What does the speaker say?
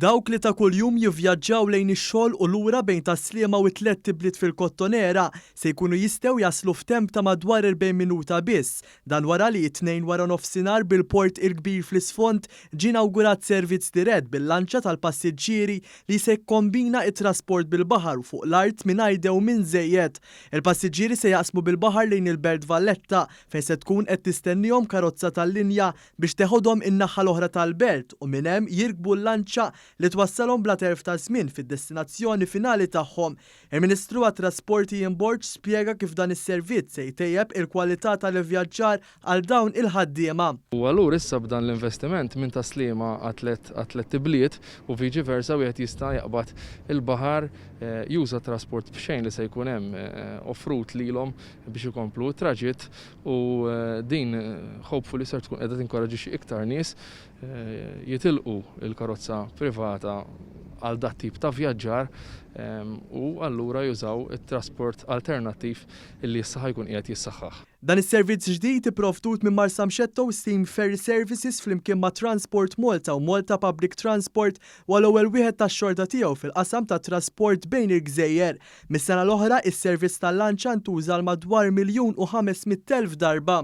Dawk li ta' kuljum jivvjaġġaw lejn ix-xogħol u lura bejn Tas-Sliema u t-tlett ibliet fil-Kottonera se jkunu jistgħu jaslu f'temp ta' madwar 40 minuta biss. Dan wara li t-Tnejn waranofsinhar bil-Port il-Kbir fl-isfond ġie inawgurat servizz dirett bil-lanċa tal-passiġġieri li se jkombina t-trasport bil-baħar u fuq l-art mingħajr dewmien żejjed. Il-passiġġieri se jaqsmu bil-baħar lejn il-Belt Valletta fejn se tkun qed tistennihom karozza tal-linja biex teħodhom in-naħa l-oħra tal-belt u minn hemm jirkbu l-lanċa li twassalhom bla telf ta' żmien fid-destinazzjoni finali tagħhom. Il-Ministru għat-Trasporti Ian Borg spjega kif dan is-servizz se jtejjeb il-kwalità tal-ivvjaġġar għal dawn il-ħaddiema. U allura issa b'dan l-investiment minn Tas-Sliema għat-tliet ibliet u viċi versa wieħed jista' jaqbad il-baħar, juża t-trasport b'xejn li se jkun hemm offrut lilhom biex ikomplu t-traġitt u din hopefully ser tkun qiegħda tinkoraġixxi iktar nies jitilqu l-karozza privata għal dat tip ta' vjaġġar u allura jużaw it-trasport alternattiv li issa ħa jkun qiegħed jissaħħaħ. Dan is-servizz ġdid ipprovdut minn Marsamxetto Steam Ferry Services flimkien ma' Transport Malta u Malta Public Transport huwa l-ewwel wieħed tax-xorta tiegħu fil-qasam tat-trasport bejn il-gżejjer. Mis-sena l-oħra, is-servizz tal-lanċa ntuża għal madwar miljun u ħames mitt elf darba.